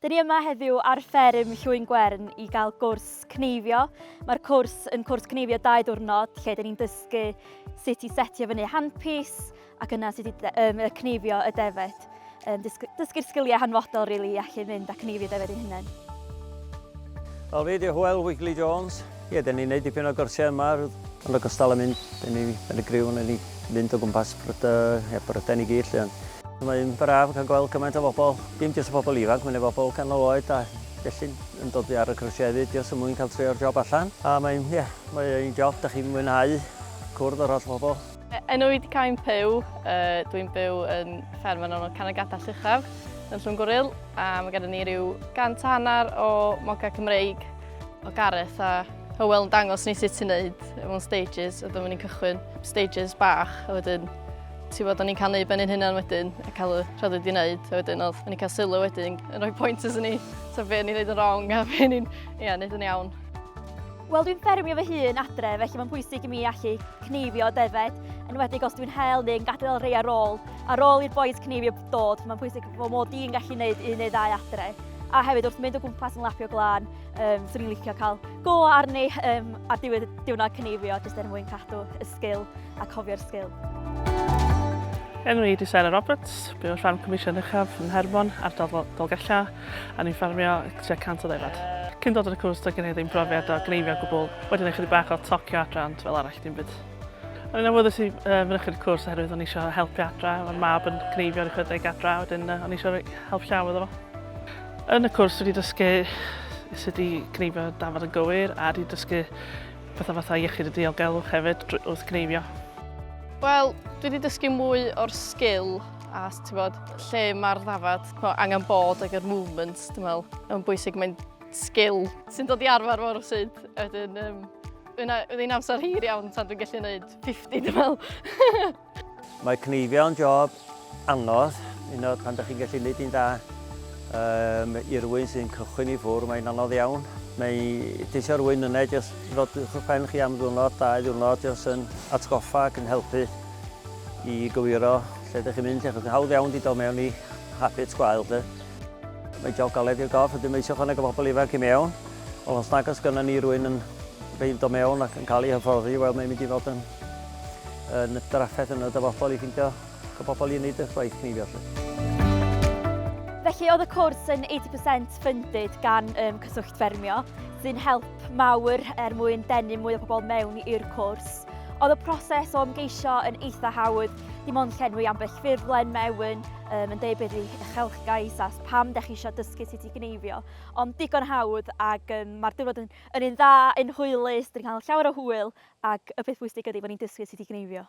Dyn ni yma heddiw ar fferm Llwyn Gwern i gael gwrs cneifio. Mae'r cwrs yn cwrs cneifio dau ddwrnod lle dyn ni'n dysgu sut i setio fyny handpis ac yna sut i um, cneifio y defed. Um, dysgu'r sgiliau hanfodol rili really, i allu mynd a cneifio defed ein hunain. Wel fi di Hywel Wigley Jones, Ie, dan ni'n neud dipyn o gyrsiau yma, yn ogystal â mynd, dan ni yn y griw, dan ni'n mynd o gwmpas Brydain i gyd 'lly ond. Mae'n braf cael gweld cymaint o bobl, dim jyst y bobl ifanc, mae 'na bobl canol oed a felly yn dod ar y cyrsiau hefyd jyst er mwyn cael trio'r job allan. A mae'n, ie, mae'n job dach chi'n mwynhau cwrdd â'r holl bobl. E, enw i di cael yn Pew, uh, dwi'n byw yn fferm yn ôl Canagata Llychaf yn Llwn Gwril a mae gennym ni rhyw gant a hanner o moga Cymreig o Gareth a Hywel yn dangos ni sut ti'n neud mewn stages a dyma ni'n cychwyn stages bach a wedyn ti'n bod o'n i'n cael neud ben i'n hynna'n wedyn a cael y rhaid wedi neud a wedyn oedd o'n i'n cael sylw wedyn yn rhoi pointers yn ni so fe ni'n neud yn wrong a fe ni'n ia, neud yn iawn. Wel, dwi'n ffermio fy hun adre, felly mae'n bwysig i mi allu cneifio defaid, yn wedi os dwi'n hel neu'n gadael rei ar ôl. Ar ôl i'r boes cneifio dod, mae'n bwysig bod mod i'n gallu gwneud un neu ddau adre. A hefyd wrth mynd o gwmpas yn lapio glân, um, swn i'n licio cael go arni um, ar diwedd y diwrnod cneifio, jyst er mwyn cadw y sgil a cofio'r sgil. Enw i di Sarah Roberts, byw yn rhan Comisiwn Uchaf yn Hermon, ardal Dolgella. a ni'n ffarmio tua 100 o ddefaid. Cyn dod ar y cwrs doedd gen i ddim profiad o gneifio o gwbl, wedi neud chydig bach o tocio adra ond fel arall dim byd. O'n i'n awyddus i fynychu'r cwrs oherwydd o'n i eisiau helpu adra, mae'r mab yn gneifio ar ei adra a wedyn o'n i eisiau help llaw iddo fo. Yn y cwrs wedi dysgu sut i gneifio dafod yn gywir a wedi dysgu pethau fatha iechyd y diogelwch hefyd wrth gneifio. Wel, dwi wedi dysgu mwy o'r sgil A ti'n bod, lle mae'r ddafad, angen bod ag yr movement, dwi'n meddwl, yn bwysig, mae'n sgil sy'n dod i arfer fawr o syd. Wedyn, um, wedyn amser hir iawn tan dwi'n gallu gwneud 50, dwi'n meddwl. Mae cneifio yn job anodd, un o'r pan ydych chi'n gallu gwneud un da. Um, I rywun sy'n cychwyn i ffwr, mae'n anodd iawn. Mae tisio rwy'n yna, jyst ddod i'ch pen chi am ddwrnod, dau ddwrnod, jyst yn atgoffa ac yn helpu. i gywiro lle dych chi'n mynd, achos hawdd iawn di dod mewn i habits gwael, lle. Mae job galed i'r gorff, ydym eisiau chwaneg o bobl ifanc i mewn, ond os nag os gynnon ni rwy'n yn beid o mewn ac yn cael ei hyfforddi, wel mae'n mynd i fod yn, yn drafferth yn y dyfodol i ffeindio y bobl i wneud y gwaith ni felly. Felly oedd y cwrs yn 80% funded gan um, Cyswllt Ffermio, sy'n help mawr er mwyn denu mwy o bobl mewn i'r cwrs. Oedd y proses o ymgeisio yn eitha hawdd, dim ond llenwi ambell ffurflen mewn, um, yn deud beth yw uchelgais a pam da chi eisiau dysgu sut i gneifio. Ond digon hawdd ac um, mae'r diwrnod yn, yn un dda, yn hwylus, dwi'n cael llawer o hwyl ac y peth bwysig ydy bod ni'n dysgu sut i gneifio.